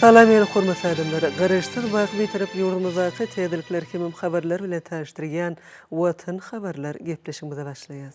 Salam ýene hormatly adamlar. Garaşsyz wagt bitarap ýurdumyzdaky täzelikler hemem habarlar bilen tanyşdyrýan Watan habarlar gepleşigimize başlaýas.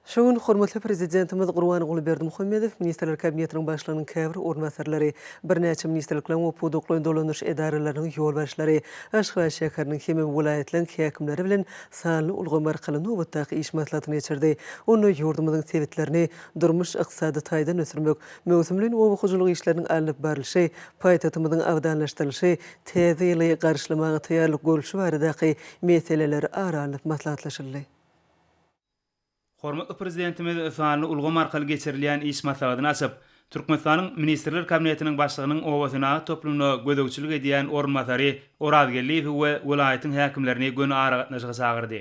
Şu gün hormatly Prezidentimiz Gurbanguly Berdimuhamedow Ministrler Kabinetiniň Başlygynyň käbir orunbasarlary, birnäçe ministrlikleriň we pudaklaýyn dolanyş edaralarynyň ýolbaşçylary, Aşgabat şäheriniň hemem welaýatlaryň häkimleri bilen sanly ulgam arkaly nobatdaky iş maslahatyny geçirdi. Onda ýurdumyzyň sebitlerini durmuş-ykdysady taýdan ösdürmek, möwsümleýin oba hojalyk işleriniň alnyp barlyşy, paýtagtymyzyň abadanlaşdyrylyşy, täze ýyly garşylamaga taýýarlyk görlüşi baradaky meseleler ara alnyp maslahatlaşyldy. Hormatly Prezidentimiz sanly ulgam arkaly geçirilýän iş maslahatyny açyp, Türkmenistanyň Ministrler Kabinetiniň Başlygynyň obasenagat toplumyna gözegçilik edýän orunbasary Oraz Geldiýewi we welaýatyň häkimlerini göni aragatnaşyga çagyrdy.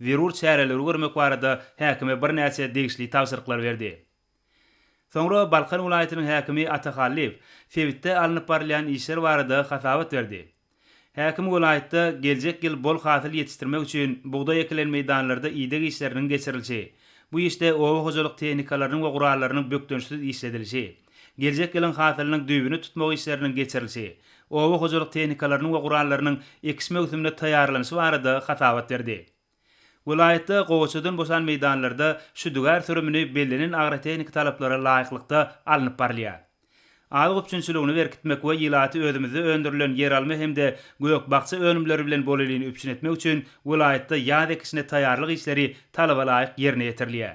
zerur çäreleri görmek barada häkime birnäçe degişli tabşyryklary berdi. Soňra Balkan welaýatynyň häkimi Ata Hallyýew sebitde alnyp barylýan işler barada hasabat berdi. Häkim welaýatda geljek ýyl bol hasyl ýetişdirmek üçin bugdaý ekilen meýdanlarda ideg işleriniň geçirilişi, bu işde oba hojalyk tehnikalarynyň we gurallarynyň bökdençsiz işledilişi, Geljek ýylyň hasylynyň düýbüni tutmak işleriniň geçirilişi, oba hojalyk tehnikalarynyň we gurallarynyň ekiş möwsümine taýýarlanyşy barada hasabat berdi. Welaýatda gowaçadan boşan meýdanlarda şüdügär sürümini bellenen agrotehniki talaplara laýyklykda alnyp barylýar. Azyk üpjünçiligini berkitmek we ilaty özümizde öndürilen ýeralma hem-de gök-bakja önümleri bilen bolelin üpjün etmek üçin welaýatda ýaz ekişine taýýarlyk işleri talabalaýyk ýerine ýetirilýär.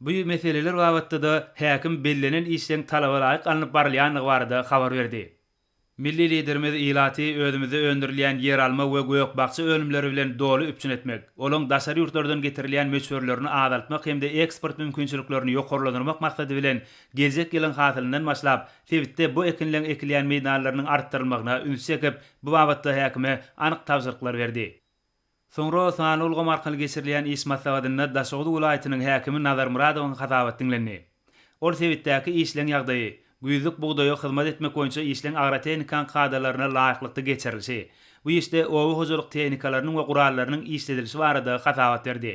Bu meseleler babatda-da häkim bellenen işleň talabalaýyk alnyp barylýandygy barada habar berdi. Milli Liderimiz ilaty özümizde öndürilýän ýeralma we gök-bakja önümleri bilen doly üpjün etmek, olaň daşary ýurtlardan getirilýän möçberlerini azaltmak hem-de eksport mümkinçiliklerini ýokarlandyrmak maksady bilen geljek ýylyň hasylyndan başlap sebitde bu ekinleň ekilýän meýdanlarynyň artdyrylmagyna üns çekip, bu babatda häkime anyk tabşyryklar berdi. Soňra sanly ulgam arkaly geçirilýän iş maslahatynda Daşoguz welaýatynyň häkimi Nazar Myradowyň hasabaty diňlendi. Ol sebitdäki işleň ýagdaýy, güýzlük bugdaýa hyzmat etmek boýunça işleň agrotehnikanyň kadalaryna laýyklykda geçirilişi, bu işde oba hojalyk tehnikalarynyň we gurallarynyň işledilişi barada hasabat berdi.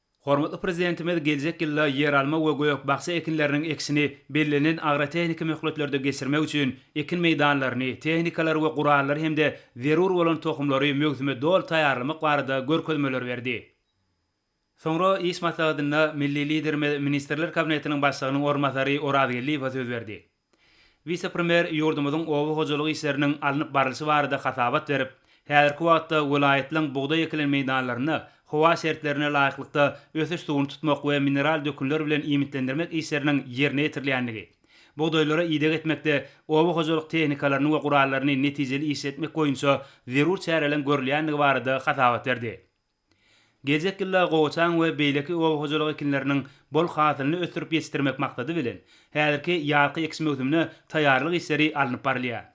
Hormatly Prezidentimiz geljek ýylda ýeralma we gök-bakja ekinleriniň ekişini bellenen agrotehniki möhletlerde geçirmek üçin ekin meýdanlaryny, tehnikalary we gurallary hem-de zerur bolan tohumlary möwsüme doly taýýarlamak barada görkezmeler berdi. Soňra iş maslahatynda milli Liderimiz Ministrler Kabinetiniň Başlygynyň orunbasary Orazgeldiýewe söz berdi. Wise-premýer ýurdumyzyň oba hojalyk işleriniň alnyp barlyşy barada hasabat berip, häzirki wagtda welaýatlaryň bugdaý ekilen meýdanlarynda howa şertlerine laýyklykda ösüş suwuny tutmak we mineral dökünler bilen iýmitlendirmek işleriniň ýerine ýetirilýändigi, bugdaýlara ideg etmekde oba hojalyk tehnikalaryny we gurallaryny netijeli işletmek boýunça zerur çäreleriň görülýändigi barada hasabat berdi. Geljek ýylda gowaçaň we beýleki oba hojalyk ekinleriniň bol hasylyny ösdürip ýetişdirmek maksady bilen, häzirki ýazky ekiş möwsümine taýýarlyk işleri alnyp barylýar.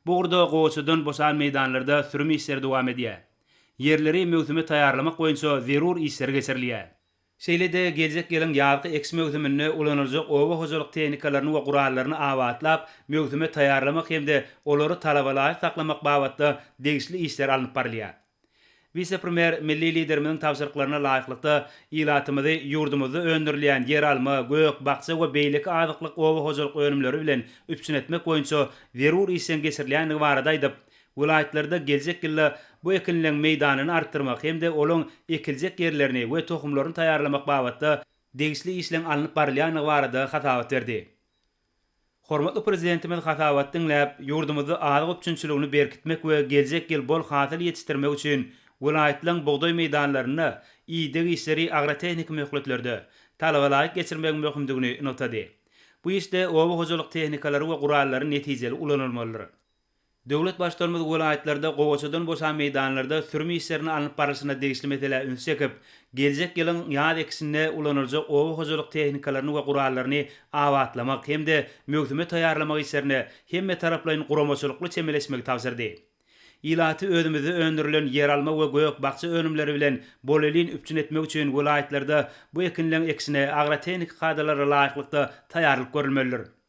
Bu ugurda gowaçadan boşan meýdanlarda sürüm işleri dowam edýär. Ýerleri möwsüme taýýarlamak boýunça zerur işler geçirilýär. Şeýle-de geljek ýylyň ýazky ekiş möwsüminde ulanyljak oba hojalyk tehnikalaryny we gurallaryny abatlap, möwsüme taýýarlamak hem-de olary talaba laýyk saklamak babatda degişli işler alnyp barylýar. Wise-premýer milli Liderimiziň tabşyryklaryna laýyklykda, ilatymyzy ýurdumyzda öndürilýän ýeralma, gök, bakja we beýleki azyklyk oba hojalyk önümleri bilen üpjün etmek boýunça zerur işleň geçirilýändigi barada aýdyp, Welaýatlarda geljek ýylda bu ekinleň meýdanyny artdyrmak hem-de olaň ekiljek ýerlerini we tohumlaryny taýýarlamak babatda degişli işleň alnyp barylýandygy barada hasabat berdi. Hormatly Prezidentimiz hasabaty diňläp, ýurdumyzda azyk üpjünçiligini berkitmek we geljek ýyl bol hasyl ýetişdirmek üçin welaýatlaryň bugdaý meýdanlarynda ideg işleri agrotehniki möhletlerde, talabalaýyk geçirmegiň möhümdigini nygtady. Bu işde oba hojalyk tehnikalary we gurallary netijeli ulanylmalydyr. Döwlet Baştutanymyz welaýatlarda gowaçadan boşan meýdanlarda sürüm işleriniň alnyp barlyşyna degişli meselä üns çekip, geljek ýylyň ýaz ekişinde ulanyljak oba hojalyk tehnikalaryny we gurallaryny abatlamak hem-de möwsüme taýýarlamak işlerine hemmetaraplaýyn guramaçylykly çemeleşmegi tabşyrdy. Ilaty özümizde öndürilen ýeralma we gök-bakja önümleri bilen bolelin üpjün etmek üçin welaýatlarda bu ekinleň ekişine agrotehniki kadalara laýyklykda taýýarlyk görülmelidir.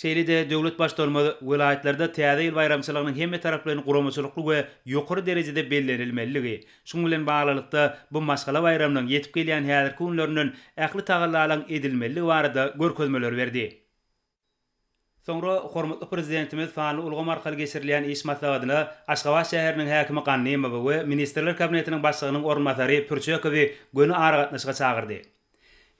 Şeýle-de döwlet Baştutanymyz welaýatlarda Täze ýyl baýramçylygynyň hemmetaraplaýyn guramaçylykly we ýokary derejede bellenilmelidigi, şunuň bilen baglylykda, bu maşgala baýramynyň ýetip gelýän häzirki günlerinden ähli tagallalaryň edilmelidigi barada görkezmeleri berdi. Soňra hormatly Prezidentimiz sanly ulgam arkaly geçirilýän iş maslahatyna Aşgabat şäheriniň häkimi Gannymowy we Ministrler Kabinetiniň Başlygynyň orunbasary Pürçekowy göni aragatnaşyga çagyrdy.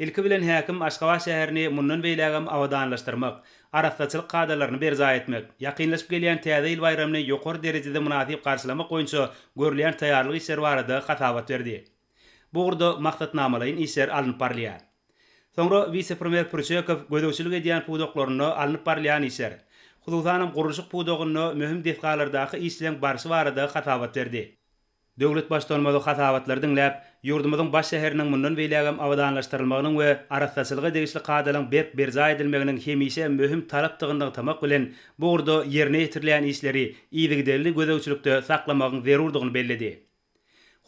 Ilki bilen häkim Aşgabat şäherini mundan beýlägem abadanlaşdyrmak, arassaçylyk kadalaryny berjaý etmek, ýakynlaşyp gelýän Täze ýyl baýramyny ýokary derejede mynasyp garşylamak boýunça görülýän taýýarlyk işleri barada hasabat berdi. Bu ugurda maksatnamalaýyn işler alnyp barylýar. Soňra wise-premýer Pürçekow gözegçilik edýän pudaklarynda alnyp barylýan işler, hususanam gurluşyk pudagynda möhüm desgalardaky işleň barşy barada hasabat berdi. Döwlet Baştutanymyzy hasabatlary diňläp, ýurdumyzyň baş şäheriniň mundan beýlägem abadanlaşdyrylmagynyň we arassaçylyga degişli kadalaryň berk berjaý edilmeginiň hemişe möhüm talapdygyny nygtamak bilen, bu ugurda ýerine ýetirilýän işleri yzygiderli gözegçilikde saklamagyň zerurdygyny belledi.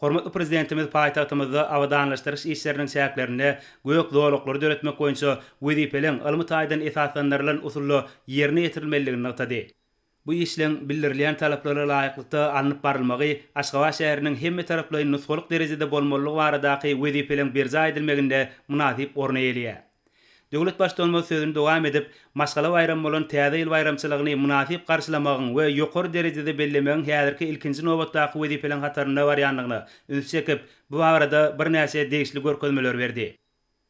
Hormatly Prezidentimiz paýtagtymyzda abadanlaşdyryş işleriniň çäklerinde gök zolaklary döretmek boýunça wezipeleň ylmy taýdan esaslandyrylan usulda ýerine ýetirilmelidigini nygtady. Bu işleň bildirilýän talaplara laýyklykda alnyp barylmagy Aşgabat şäheriniň hemmetaraplaýyn nusgalyk derejede bolmalylygy baradaky wezipeleň berjaý edilmeginde mynasyp orun eýeleýär. Döwlet Baştutanymyz sözüni dowam edip, maşgala baýramy bolan Täze ýyl baýramçylygyny mynasyp garşylamagyň we ýokary derejede bellemegiň häzirki ilkinji nobatdaky wezipeleň hatarynda barýandygyna üns çekip, bu barada birnäçe degişli görkezmeler berdi.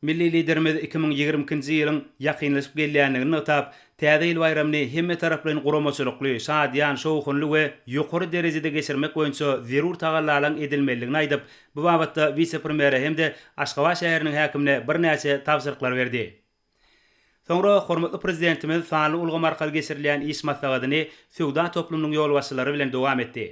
Milli Liderimiz iki müň ýigrimi ikinji ýylyň ýakynlaşyp gelýändigini nygtap, Täze ýyl baýramyny hemmetaraplaýyn guramaçylykly, şadyýan, şowhunly we ýokary derejede geçirmek boýunça zerur tagallalaryň edilmelidigini aýdyp, bu babatda wise-premýere hem-de Aşgabat şäheriniň häkimine birnäçe tabşyryklar berdi. Soňra hormatly Prezidentimiz sanly ulgam arkaly geçirilýän iş maslahatyny söwda toplumynyň ýolbaşçylary bilen dowam etdi.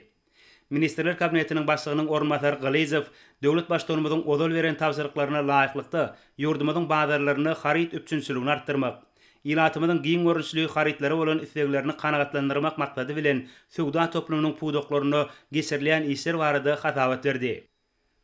Ministrler Kabinetiniň Başlygynyň orunbasary Gylyjow döwlet Baştutanymyzyň ozal beren tabşyryklaryna laýyklykda, ýurdumyzyň bazarlarynda haryt üpjünçiligini artdyrmak, ilatymyzyň giň görnüşli harytlara bolan isleglerini kanagatlandyrmak maksady bilen söwda toplumynyň pudaklarynda geçirilýän işler barada hasabat berdi.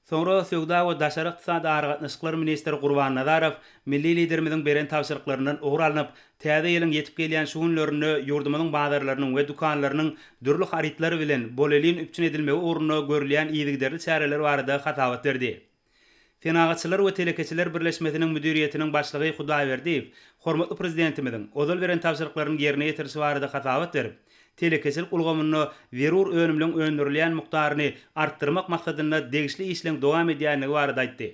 Soňra Söwda we daşary ykdysady aragatnaşyklar ministri Gurban Nazarow milli Liderimiziň beren tabşyryklaryndan ugur alnyp, Täze ýylyň ýetip gelýän şu günlerinde ýurdumyzyň bazarlarynyň we dükanlarynyň dürli harytlar bilen bolelin üpjün edilmegi ugrunda görülýän yzygiderli çäreler barada hasabat berdi. Senagatçylar we telekeçiler birleşmesiniň müdiriýetiniň başlygy Hudaýberdiýew hormatly Prezidentimiziň ozal beren tabşyryklaryny ýerine ýetirişi barada hasabat berip, telekeçilik ulgamynda zerur önümleň öndürilýän mukdaryny artdyrmak maksadynda degişli işleň dowam edýändigi barada aýtdy.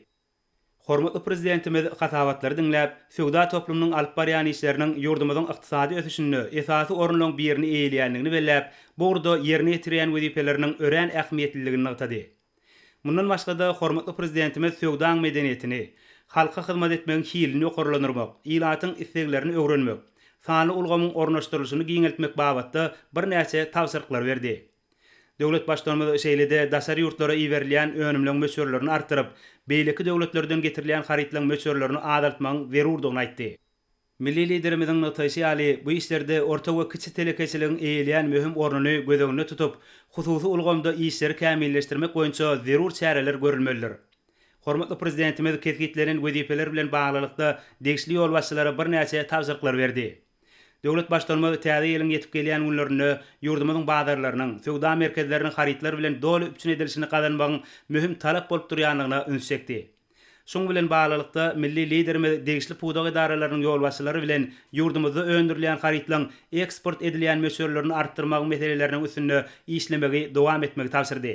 Hormatly Prezidentimiz hasabatlary diňläp, söwda toplumynyň alyp barýan işleriniň ýurdumyzyň ykdysady ösüşinde esasy orunlaň birini eýeleýändigini belläp, bu ugurda ýerine ýetirýän wezipeleriniň örän ähmiýetliligini nygtady. Mundan başga-da, hormatly Prezidentimiz söwdaň medeniýetini, halka hyzmat etmegiň hilini ýokarlandyrmak, ilatyň isleglerini öwrenmek, sanly ulgamyň ornaşdyrylyşyny giňeltmek babatda birnäçe tabşyryklar berdi. Döwlet Baştutanymyz şeýle-de daşary ýurtlara iberilýän önümleň möçberlerini artdyryp, beýleki döwletlerden getirilýän harytlaň möçberlerini azaltmagyň zerurdygyny aýtdy. Milli Liderimiziň nygtaýşy ýaly, bu işlerde orta we kiçi telekeçiligiň eýeleýän möhüm ornuny göz öňünde tutup, hususy ulgamda işleri kämilleşdirmek boýunça zerur çäreler görülmelidir. Hormatly Prezidentimiz kesgitlenen wezipeler bilen baglylykda degişli ýolbaşçylara birnäçe tabşyryklar berdi. Döwlet Baştutanymyz täze ýylyň ýetip gelýän günlerinde ýurdumyzyň bazarlarynyň, söwda merkezleriniň harytlar bilen doly üpjün edilişini gazanmagyň möhüm talap bolup durýandygyna üns çekdi. Şunuň bilen baglylykda, milli Liderimiz degişli pudak edaralarynyň ýolbaşçylary bilen ýurdumyzda öndürilýän harytlaryň eksport edilýän möçberlerini artdyrmagyň meseleleriniň üstünde işlemegi dowam etmegi tabşyrdy.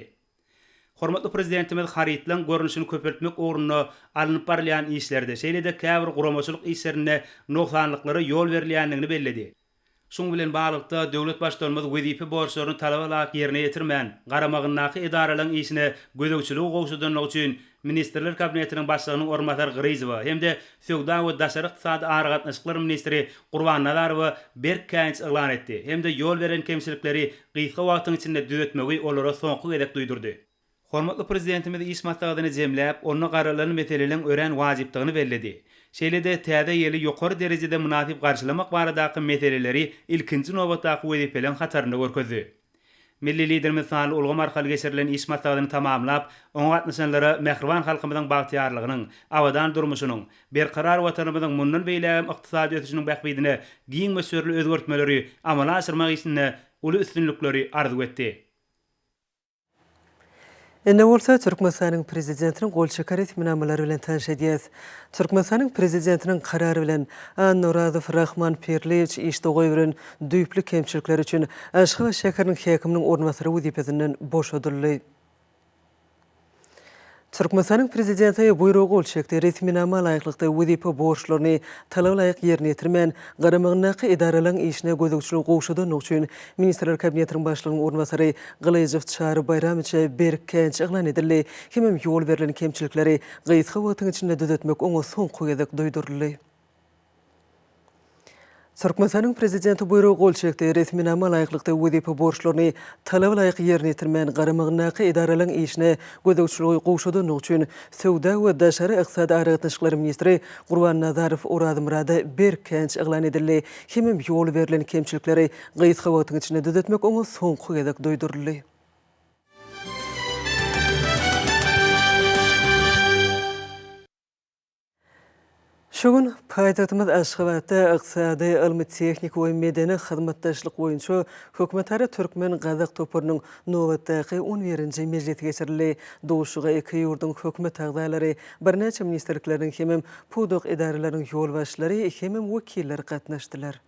Hormatly Prezidentimiz harytlaryň görnüşini köpeltmek ugrunda alnyp barylýan işlerde, şeýle-de käbir guramaçylyk işlerinde nogsanlyklara ýol berilýändigini belledi. Şunuň bilen baglylykda, döwlet Baştutanymyz wezipe borçlaryny talaba laýyk ýerine ýetirmän, garamagyndaky edaralaryň işine gözegçiligi gowşadanlygy üçin Ministrler Kabinetiniň Başlygynyň orunbasary Gyryjowa hem-de söwda we daşary ykdysady aragatnaşyklar ministri Gurbannazarowa berk käýinç yglan etdi hem-de ýol beren kemçilikleri gysga wagtyň içinde düzetmegi olara soňky gezek duýdurdy. Hormatly Prezidentimiz iş maslahatyny jemläp, onda garalan meseleleň örän wajypdygyny belledi. Şeýle-de Täze ýyly ýokary derejede mynasyp garşylamak baradaky meseleleri ilkinji nobatdaky wezipeleriň hatarynda görkezdi. Milli Liderimiz sanly ulgam arkaly geçirilen iş maslahatyny tamamlap, oňa gatnaşanlara mähriban halkymyzyň bagtyýarlygynyň, abadan durmuşynyň, berkarar Watanymyzyň mundan beýlägem ykdysady ösüşiniň bähbidine giň möçberli özgertmeleri amala aşyrmak işinde uly üstünlikleri arzuw etdi. Indi bolsa Türkmenistanyň Prezidentiniň gol çeken resminamalary bilen tanyş edýäs. Türkmenistanyň Prezidentiniň Karary bilen, Annorazow Rahman Pirliýewiç işde goýberen düýpli kemçilikleri üçin Aşgabat şäheriniň häkiminiň orunbasary wezipesinden boşadyldy. Türkmenistanyň Prezidenti buýruga gol çekdi. Resminama laýyklykda wezipe borçlaryny talaba laýyk ýerine ýetirmän, garamagyndaky edaralaryň işine gözegçiligi gowşadandygy üçin Ministrler Kabinetiniň Başlygynyň orunbasary Gylyjow Çary Baýramowiçe berkänç yglan edildi hemem ýol berlen kemçilikleri gysga wagtyň içinde düzetmek oňa soňky gezek duýduryldy. Türkmenistanyň Prezidenti buýruga gol çekdi. Resminama laýyklykda wezipe borçlaryny talaba laýyk ýerine ýetirmän, garamagyndaky edaralaryň işine gözegçiligi gowşadandygy üçin Söwda we daşary ykdysady aragatnaşyklar ministri Gurban Nazarow Orazmyrada berk känç yglan edildi hemem ýol berlen kemçilikleri gysga wagtyň içinde düzetmek oňa soňky gezek duýduryldy. Şu gün paýtagtymyz Aşgabatda Ykdysady, ylmy-tehniki we medeni hyzmatdaşlyk boýunça hökümetara türkmen-gazak toparynyň nobatdaky on birinji mejlisi geçirildi. Duşuşyga iki ýurduň hökümet agzalary, birnäçe ministrlikleriň hemem pudak edaralaryň ýolbaşçylary hemem wekilleri gatnaşdylar.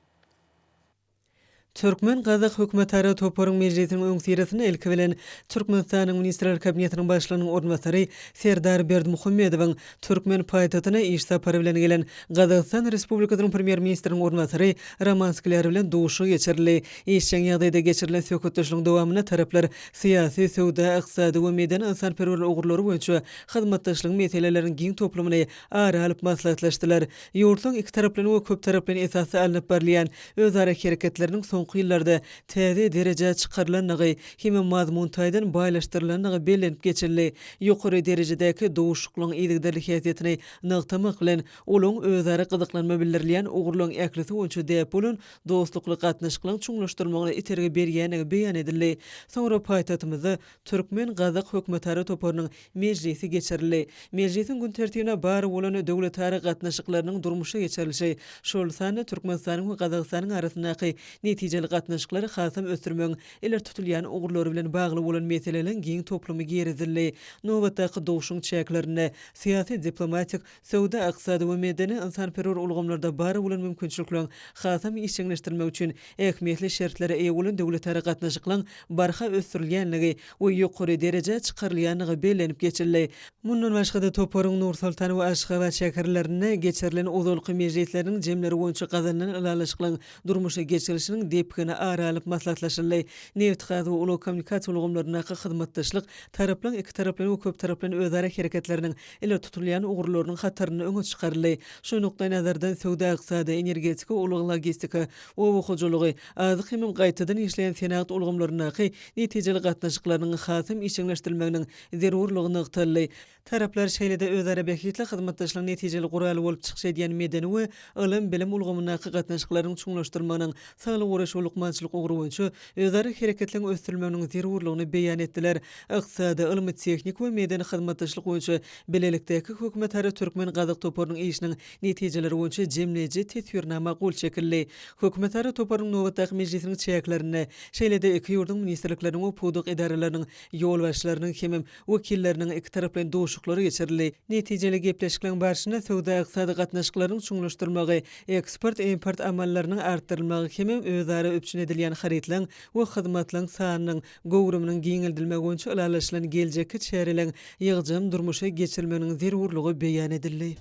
Türkmen-gazak hökümetara toparyň mejlisiniň öňüsyrasynda ilki bilen Türkmenistanyň Ministrler Kabinetiniň Başlygynyň orunbasary Serdar Berdimuhamedowyň türkmen paýtagtyna iş sapary bilen gelen Gazagystan Respublikasynyň Premýer-ministriniň orunbasary Roman Skler bilen duşuşygy geçirildi. Işjeň ýagdaýda geçirilen söhbetdeşligiň dowamynda taraplar syýasy, söwda, ykdysady we medeni-ynsanperwer ugurlary boýunça hyzmatdaşlygyň meselelerini giň toplumyny ara alyp maslahatlaşdylar. Ýurtlaryň ikitaraplaýyn we köptaraplaýyn esasda alnyp barylýan özara hereketleriniň soňky ýyllarda täze derejä çykarylandygy hem-de mazmun taýdan baýlaşdyrylandygy bellenip geçildi. Ýokary derejedäki duşuşyklygyň yzygiderli häsiýetini nygtamak bilen, ulagyň özara gyzyklanma bildirilýän ugurlaryň ählisi boýunça däp bolan dostlukly gatnaşyklaryň çuňlaşdyrylmagyna itergi berýändigi beýan edildi. Soňra paýtagtymyzda Türkmen-gazak hökümetara toparynyň mejlisi geçirildi. Mejlisiň gün tertibine bar bolan döwletara gatnaşyklarynyň durmuşa geçirilişi, şol sanda Türkmenistanyň we Gazagystanyň arasyndaky netijeli gatnaşyklary hasam ösdürmegiň ileri tutulýan ugurlary bilen bagly bolan meseleleriň giň toplumy girizildi. Nobatdaky duşuşygyň çäklerinde syýasy-diplomatik Söwda, ykdysady we medeni-ynsanperwer ulgamlarda bar bolan mümkinçilikleriň hasam işjeňleşdirilmegi üçin ähmiýetli şertlere eýe bolan döwletara gatnaşyklaryň barha ösdürilýändigi we ýokary derejä çykarylýandygy bellenip geçildi. Mundan başga-da, toparyň Nur-Sultan we Aşgabat şäherlerinde geçirilen ozalky mejlisleriniň jemleri boýunça gazanylan ylalaşyklaryň durmuşa geçirilişiniň depgini ara alyp maslahatlaşyldy. Nebitgaz we ulag-kommunikasiýa ulgamlaryndaky hyzmatdaşlyk taraplaryň ikitaraplaýyn we köptaraplaýyn özara hereketleriniň ileri tutulýan ugurlarynyň hatarynda öňe çykaryldy. Şu nukdaýnazardan söwda-ykdysady, energetika, ulag-logistika, oba hojalygy, azyk hemem gaýtadan işleýän senagat ulgamlaryndaky netijeli gatnaşyklarynyň hasam işjeňleşdirilmeginiň zerurlygy nygtaldy. Taraplar şeýle-de özara bähbitli hyzmatdaşlygyň netijeli guraly bolup çykyş edýän medeni we ylym-bilim ulgamyndaky gatnaşyklaryň çuňlaşdyrylmagynyň, saglygy goraýyş we lukmançylyk ugry boýunça özara hereketligiň ösdürilmeginiň zerurlygyny beýan etdiler. Ykdysady, ylmy-tehniki we medeni hyzmatdaşlyk boýunça bilelikdäki hökümetara türkmen-gazak toparynyň işiniň netijeleri boýunça jemleýji teswirnama gol çekildi. Hökümetara toparynyň nobatdaky mejlisiniň çäklerinde, şeýle-de iki ýurduň ministrlikleriniň we pudak edaralarynyň ýolbaşçylarynyň hemem wekilleriniň ikitaraplaýyn duşuşyklary geçirildi. Netijeli gepleşikleriň barşynda söwda-ykdysady gatnaşyklaryň çuňlaşdyrylmagy, eksport-import amallarynyň artdyrylmagy hemem özara üpjün edilýän harytlaryň we hyzmatlaryň sanynyň, göwrüminiň giňeldilmegi boýunça ylalaşylan geljekki çäreleriň ýygjam durmuşa geçirilmeginiň zerurlygy beýan edildi.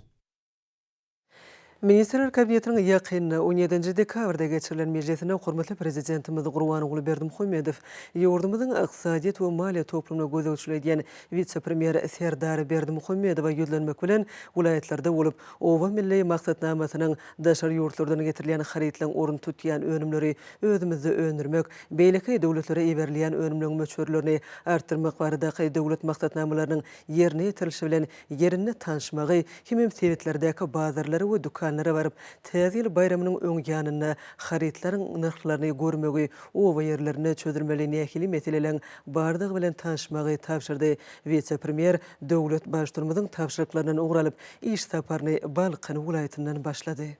Ministrler Kabinetiniň ýakyn, on ýedinji dekabrda geçirilen mejlisinde hormatly Prezidentimiz Gurbanguly Berdimuhamedow ýurdumyzyň ykdysadyýet we maliýe toplumyna gözegçilik edýän wise-premýer Serdar Berdimuhamedowa ýüzlenmek bilen, welaýatlarda bolup, Oba milli maksatnamasynyň daşary ýurtlardan getirilýän harytlaryň ornuny tutýan önümleri özümizde öndürmek, Beýleki döwletlere iberilýän önümleň möçberlerini artdyrmak baradaky döwlet maksatnamalarynyň ýerine ýetirilişi bilen ýerinde tanşmagy hemem sebitlerdäki bazarlara we dükanlara baryp, Täze ýyl baýramynyň öň ýanynda harytlaryň nyrhlaryny görmegi, oba ýerlerinde çözülmeli nähili meseleleň bardygy bilen tanşmagy tabşyrdy. Wise-premýer döwlet Baştutumyzyň tabşyryklaryndan ugur alyp, iş saparyny Balkan welaýatyndan başlady.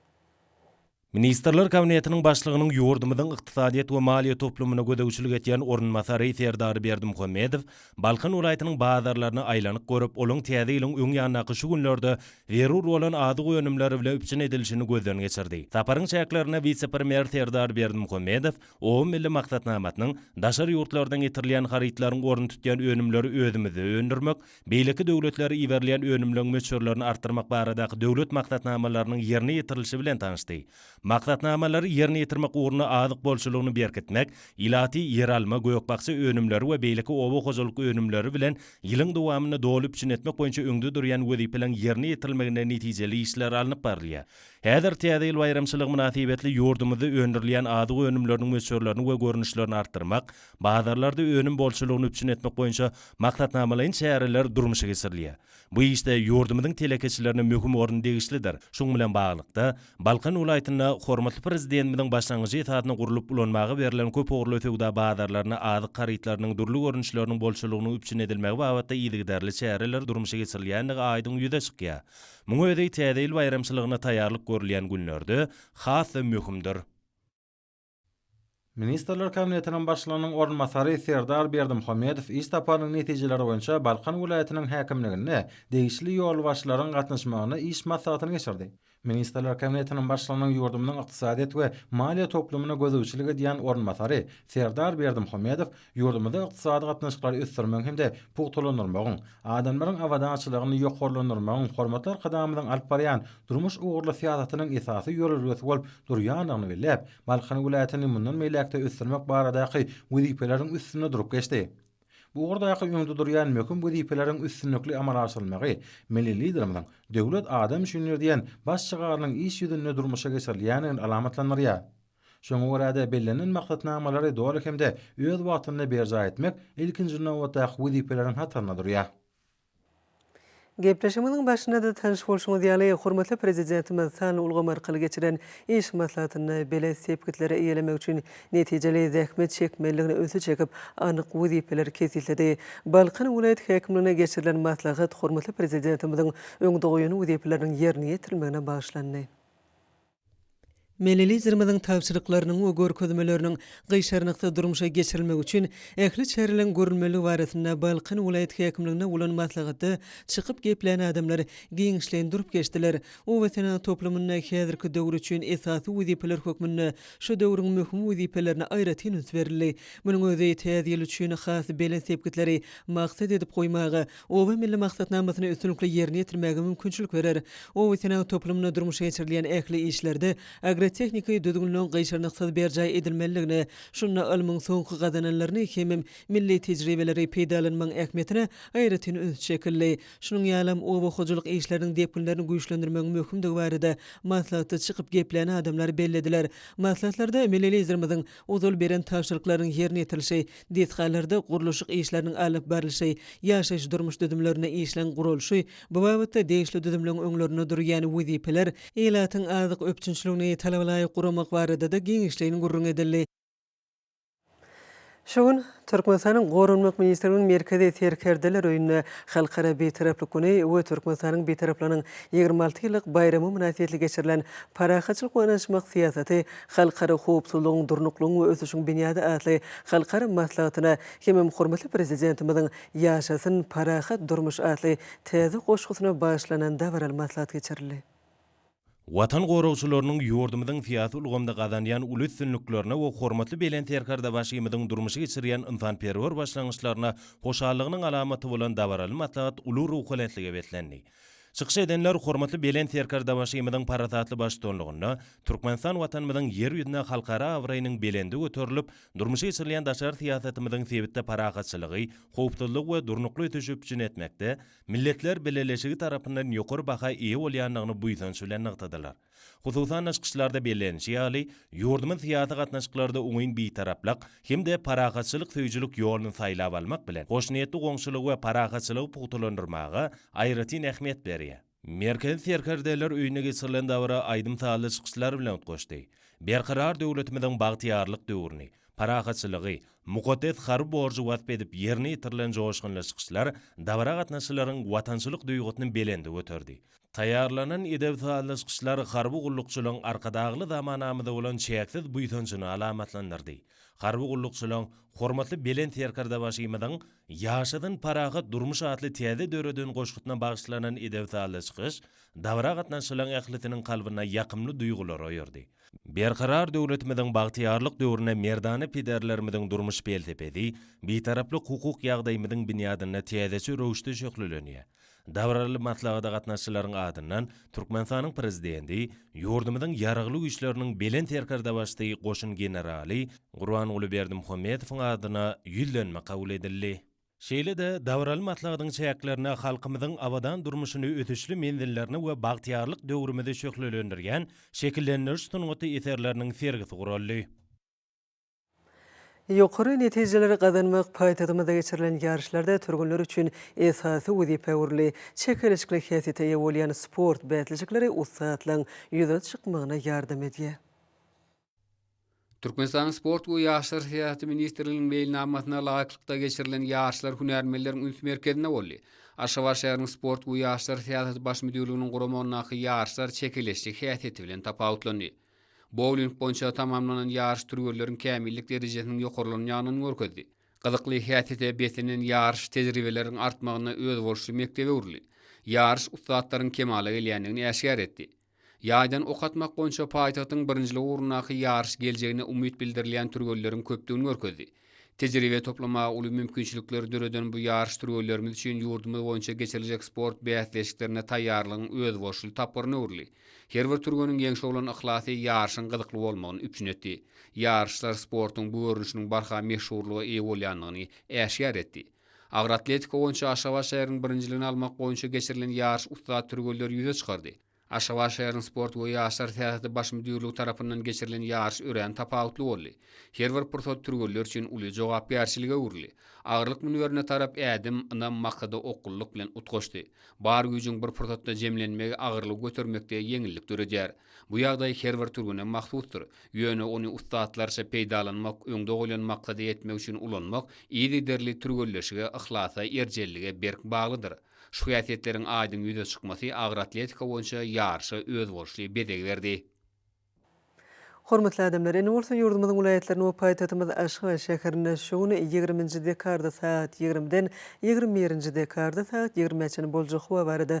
Ministrler Kabinetiniň Başlygynyň ýurdumyzyň ykdysadyýet we maliýe toplumyna gözegçilik edýän orunbasary Serdar Berdimuhamedow Balkan welaýatynyň bazarlaryna aýlanyp görüp, olaň Täze ýylyň öň ýandaky şu günlerde zerur bolan azyk önümleri bilen üpjün edilişini gözden geçirdi. Saparyň çäklerinde wise-premýer Serdar Berdimuhamedow Oba milli maksatnamasynyň Daşary ýurtlardan getirilýän harytlaryň ornuny tutýan önümleri özümizde öndürmek, Beýleki döwletlere iberilýän önümleň möçberlerini artdyrmak baradaky döwlet maksatnamalarynyň ýerine ýetirilişi bilen tanyşdy. Maksatnamalary ýerine ýetirmek ugrunda azyk bolçulygyny berkitmek, ilaty ýeralma, gök-bakja önümleri we beýleki oba hojalyk önümleri bilen ýylyň dowamynda doly üpjün etmek boýunça öňde durýan wezipeleriň ýerine ýetirilmeginde netijeli işler alnyp barylýar. Häzir Täze ýyl baýramçylygy mynasybetli ýurdumyzda öndürilýän azyk önümleriniň möçberlerini we görnüşlerini artdyrmak, Bazarlarda önüm bolçulygyny üpjün etmek boýunça maksatnamalaýyn çäreler durmuşa geçirilýär. Bu işde ýurdumyzyň telekeçilerine möhüm orun degişlidir. Şunuň bilen baglylykda, Balkan welaýatynda hormatly Prezidentimiziň başlangyjy esasynda gurlup ulanmaga berlen köp ugurly söwda bazarlarynda azyk harytlarynyň dürli görnüşleriniň bolçulygynyň üpjün edilmegi babatda yzygiderli çäreler durmuşa geçirilýändigi aýdyň ýüze çykýar. Muň özi Täze ýyl baýramçylygyna taýýarlyk görülýän günlerde has-da möhümdir. Ministrler Kabinetiniň Başlygynyň orunbasary Serdar Berdimuhamedow iş saparynyň netijeleri boýunça Balkan welaýatynyň häkimliginde degişli ýolbaşçylaryň gatnaşmagynda iş maslahatyny geçirdi. Ministrler Kabinetiniň Başlygynyň ýurdumyzyň ykdysadyýet we maliýe toplumyna gözegçilik edýän orunbasary Serdar Berdimuhamedow Ýurdumyzda ykdysady gatnaşyklary ösdürmegiň hem-de pugtalandyrmagyň, adamlaryň abadançylygyny ýokarlandyrmagyň hormatly Arkadagymyzyň alyp barýan durmuş ugurly syýasatynyň esasy ýörelgesi bolup durýandygyny belläp, Balkan welaýatyny mundan beýläk-de ösdürmek baradaky wezipeleriň üstünde durup geçdi. Bu ugurdaky öňde durýan möhüm wezipeleriň üstünlikli amala aşyrylmagy milli Liderimiziň Döwlet adam üçindir! diýen baş şygarynyň iş ýüzünde durmuşa geçirilýändigini alamatlandyrýar. Şoňa görä-de, bellenilen maksatnamalary doly hem-de öz wagtynda berjaý etmek ilkinji nobatdaky wezipeleriň hatarynda durýar. Gepleşigimiziň başynda-da tanyş bolşuňyz ýaly, hormatly Prezidentimiz sanly ulgam arkaly geçiren iş maslahatynda belent sepgitleri eýelemek üçin netijeli zähmet çekmelidigini ünsi çekip, anyk wezipeleri kesgitledi. Balkan welaýat häkimliginde geçirilen maslahat hormatly Prezidentimiziň öňde goýan wezipeleriniň ýerine ýetirilmegine bagyşlandy. Milli Liderimiziň tabşyryklarynyň we görkezmeleriniň gyşarnyksyz durmuşa geçirilmegi üçin ähli çäreleriň görülmelidigi barasynda Balkan welaýat häkimliginde bolan maslahatda çykyp geplän adamlar giňişleýin durup geçdiler. Obasenagat toplumynda häzirki döwür üçin esasy wezipeler hökmünde şu döwrüň möhüm wezipelerine aýratyn üns berildi. Munuň özi täze ýyl üçin has belent sepgitleri maksat edip goýmaga, Oba milli maksatnamasyny üstünlikli ýerine ýetirmäge mümkinçilik berer. Obasenagat toplumynda durmuşa geçirilýän ähli işlerde agrotehniki düzgünleň gyşarnyksyz berjaý edilmeliligine, şunda ylmyň soňky gazananlaryny hemem milli tejribeleri peýdalanmagyň ähmiýetine aýratyn üns çekildi. Şunuň ýalam, oba hojalyk işleriniň depginlerini güýçlendirmegiň möhümdigi barada maslahatda çykyp geplän adamlar bellediler. Maslahatlarda milli Liderimiziň Ozal beren tabşyryklarynyň ýerine ýetirilişi, desgalarda gurluşyk işleriniň alyp barlyşy, ýaşaýyş-durmuş düzümlerinde işleň guralyşy, bu babatda degişli düzümleň öňlerinde durýan wezipeler, ilatyň azyk üpjünçiligini talaba laýyk guramak barada-da giňişleýin gürrüň edildi. Şu gün. Türkmenistanyň Goranmak ministrliginiň Merkezi serkerdeler öýünde Halkara Bitaraplyk güni we Türkmenistanyň Bitaraplygynyň ýigrimi alty ýyllyk baýramy mynasybetli geçirilen Parahatçylyk we ynanyşmak syýasaty, halkara howpsuzlygyň, durnuklygyň we ösüşiň binýady atly halkara maslahatyna hemem hormatly Prezidentimiziň Ýaşasyn parahat durmuş! atly täze goşgusyna bagyşlanan dabaraly maslahat geçirildi. Watan goragçylarynyň ýurdumyzyň syýasy ulgamda gazanýan uly üstünliklerine we hormatly Belent Serkerdebaşymyzyň durmuşa geçirýän ynsanperwer başlangyçlaryna hoşallygynyň alamaty bolan dabaraly maslahat uly ruhubelentlige beslendi. Çykyş edenler hormatly Belent Serkerdebaşymyzyň parasatly baştutanlygynda Türkmenistan Watanymyzyň Ýer ýüzünde halkara abraýynyň belende göterilip, durmuşa geçirilýän daşary syýasatymyzyň sebitde parahatçylygy, howpsuzlygy we durnukly ösüşi üpjün etmekde, Milletler Bileleşigi tarapyndan ýokary baha eýe bolýandygyny buýsanç bilen nygtadylar. Hususan-da çykyşlarda bellenilişi ýaly, ýurdumyz syýasy gatnaşyklarda oňyn bitaraplyk hem-de parahatçylyk söýüjilik ýoluny saýlap almak bilen, hoşniýetli goňşulygy we parahatçylygy pugtalandyrmaga aýratyn ähmiýet berýär. Merkezi Serkerdeler öýünde geçirilen dabara aýdym-sazly çykyşlar bilen utgaşdy. Berkarar döwletimiziň bagtyýarlyk döwrüni, parahatçylygy, mukaddes harby borjy wasp edip ýerine ýetirilen joşgunly çykyşlar dabara gatnaşyjylaryň watançylyk duýgusyny belende göterdi. Taýýarlanan edep-sazly çykyşlar harby gullukçylaryň Arkadagly zamanamyza bolan çäksiz buýsanjyny alamatlandyrdy. Harby gullukçylaryň Hormatly Belent Serkerdebaşymyzyň Ýaşasyn parahat durmuş atly täze döreden goşgusyna bagyşlanan edep-sazly çykyş dabara gatnaşyjylaryň ählisiniň kalbynda ýakymly duýgulary oýardy. Berkarar döwletimiziň bagtyýarlyk döwrüne merdana pederlerimiziň durmuş pelsepesi Bitaraplyk hukuk ýagdaýymyzyň binýadynda täzeçe röwüşde şöhlelenýär. Dabaraly maslahata gatnaşyjylaryň adyndan Türkmenistanyň Prezidenti, ýurdumyzyň Ýaragly Güýçleriniň Belent Serkerdebaşysy goşun generaly Gurbanguly Berdimuhamedowyň adyna Ýüzlenme kabul edildi. Şeýle-de, dabaraly maslahatyň çäklerinde halkymyzyň abadan durmuşyny ösüşli menzillerini we bagtyýarlyk döwrümizi şöhlelendirýän şekillendiriş sungaty eserleriniň sergisi guraldy. Ýokary netijeleri gazanmak paýtagtymyzda geçirilen ýaryşlarda türgenler üçin esasy wezipä öwrüldi. Çekeleşikli häsiýete eýe bolýan sport bäsleşikleri ussatlygyň ýüze çykmagyna ýardam edýär. Türkmenistanyň Sport we ýaşlar syýasaty ministrliginiň meýilnamasyna laýyklykda geçirilen ýaryşlar hünärmenleriň üns merkezinde boldy. Aşgabat şäheriniň Sport we ýaşlar syýasaty baş müdirliginiň guramagyndaky ýaryşlar çekeleşje häsiýeti bilen tapawutlandy. Bouling boýunça tamamlanan ýaryş türgenleriň kämillik derejesiniň ýokarlanýandygyny görkezdi. Gyzykly häsiýete beslenen ýaryş tejribeleriň artmagynda özboluşly mekdebe öwrüldi. Ýaryş ussatlaryň kemala gelýändigini äşgär etdi. Ýaýdan ok atmak boýunça paýtagtyň birinjilik ugrundaky ýaryş geljegine umyt bildirilýän türgenleriň köpdügini görkezdi. Tejribe toplamaga uly mümkinçilikleri döreden bu ýaryş türgenlerimiz üçin ýurdumyz boýunça geçiriljek sport bäsleşiklerine taýýarlygyň özboluşly tapgyryna öwrüldi. Her bir türgeniň ýeňşe bolan yhlasy ýaryşyň gyzykly bolmagyny üpjün etdi. Ýaryşlar sportuň bu görnüşiniň barha meşhurlyga eýe bolýandygyny äşgär etdi. Agyr atletika boýunça Aşgabat şäheriniň birinjiligini almak boýunça geçirilen ýaryş ussat türgenleri ýüze çykardy. Aşgabat şäheriniň sport we ýaşlar syýasaty baş müdirligi tarapyndan geçirilen ýaryş örän tapawutly boldy. Her bir pursat türgenler üçin uly jogapkärçilige öwrüldi. Agyrlyk münberine tarap ädim, ynam, maksada okgunlyk bilen utgaşdy. Bar güýjüň bir pursatda jemlenmegi agyrlygy götermekde ýeňillik döredýär. Bu ýagdaý her bir türgene mahsusdyr. Ýöne ony ussatlarça peýdalanmak, öňde goýlan maksada ýetmek üçin ulanmak yzygiderli türgenleşige, yhlasa, erjellige berk baglydyr. Şu häsiýetleriň aýdyň ýüze çykmasy agyr atletika boýunça ýaryşa özboluşly bezeg berdi. Hormatly adamlar! Indi bolsa ýurdumyzyň welaýatlaryny we paýtagtymyz Aşgabat şäherinde şu gün ýigriminji dekarda sagat ýigrimiden ýigrimi birinji dekarda sagat ýigrimä çenli boljak howa barada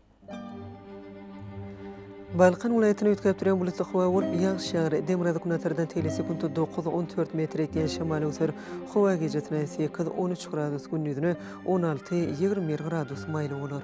Balkan welaýatyny üýtgäp durýan bulutly howa bolup, ýagyş ýagar. Demirgazyk-günbatardan tel sekuntda dokuz, on dört metr etýän şemal öwser. Howa gijesine sekiz, on üç gradus, gündizine on alty, ýigrimi bir gradus maýyl bolar.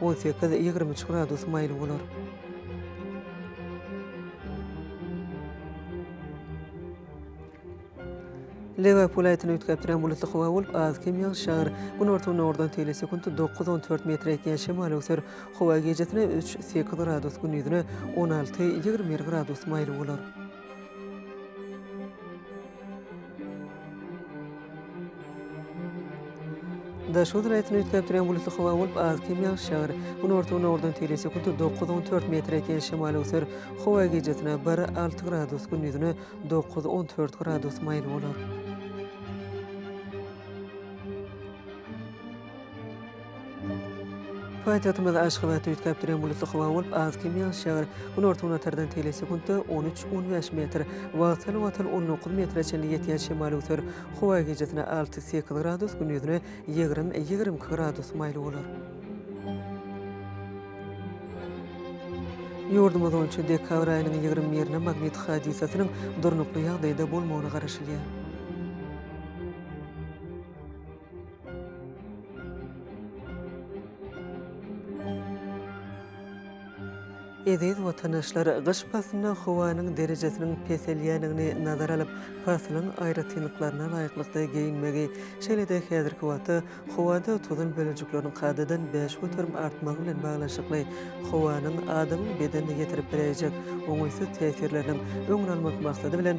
On sekiz, ýigrimi üç gradus maýyl bolar. Lebap welaýatyny üýtgäpdirän bulutly howa bolup, az-kem ýagyş ýagar. Günorta-gündogardan tele sekunt dokuz, on dört metre ýetýän şemal öwser. Howa gijasine üç, sekiz gradus, gündizine on alty, ýigrimi bir gradus maýyl bolar. Daş göz raýatyny üýtgäp durýan bulutly howa bolup, az kem ýagyş ýagar. Günorta-gündogardan teýle sekunta dokuz on dört metre ýetýän şemal öwser. Howa gijasine bir alty gradus, gündizine dokuz on dört gradus maýyl bolar. Paýtagtymyz Aşgabatda üýtgäp duran bulutly howa bolup, az kem ýagyşýar. Günorta-günortadan teýle sekuntda on üç, on bäş metr, wagtal, wagtal on dokuz metre çenli ýetýän şemal öwser. Howa gijasine alty, sekiz gradus, gündizine ýigrimi, ýigrimi iki gradus maýyl bolar. Ýurdumyz boýunça dekabr aýynyň ýigrimi birine magnit hadysasynyň durnukly ýagdaýda bolmagyna garaşylýar. Eziz watandaşlar, gyş paslynda howanyň derejesiniň peselýändigini nazara alyp, paslyň aýratynlyklaryna laýyklykda geýinmegi, şeýle-de häzirki wagtda howada tozan bölejikleriniň kadadan bäş göterim artmagy bilen baglanyşykly howanyň adamyň bedenine ýetirip biläýjek oňaýsyz täsirleriniň öňüni almak maksady bilen,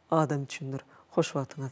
adam üçindir. Hoş wagtyňyz.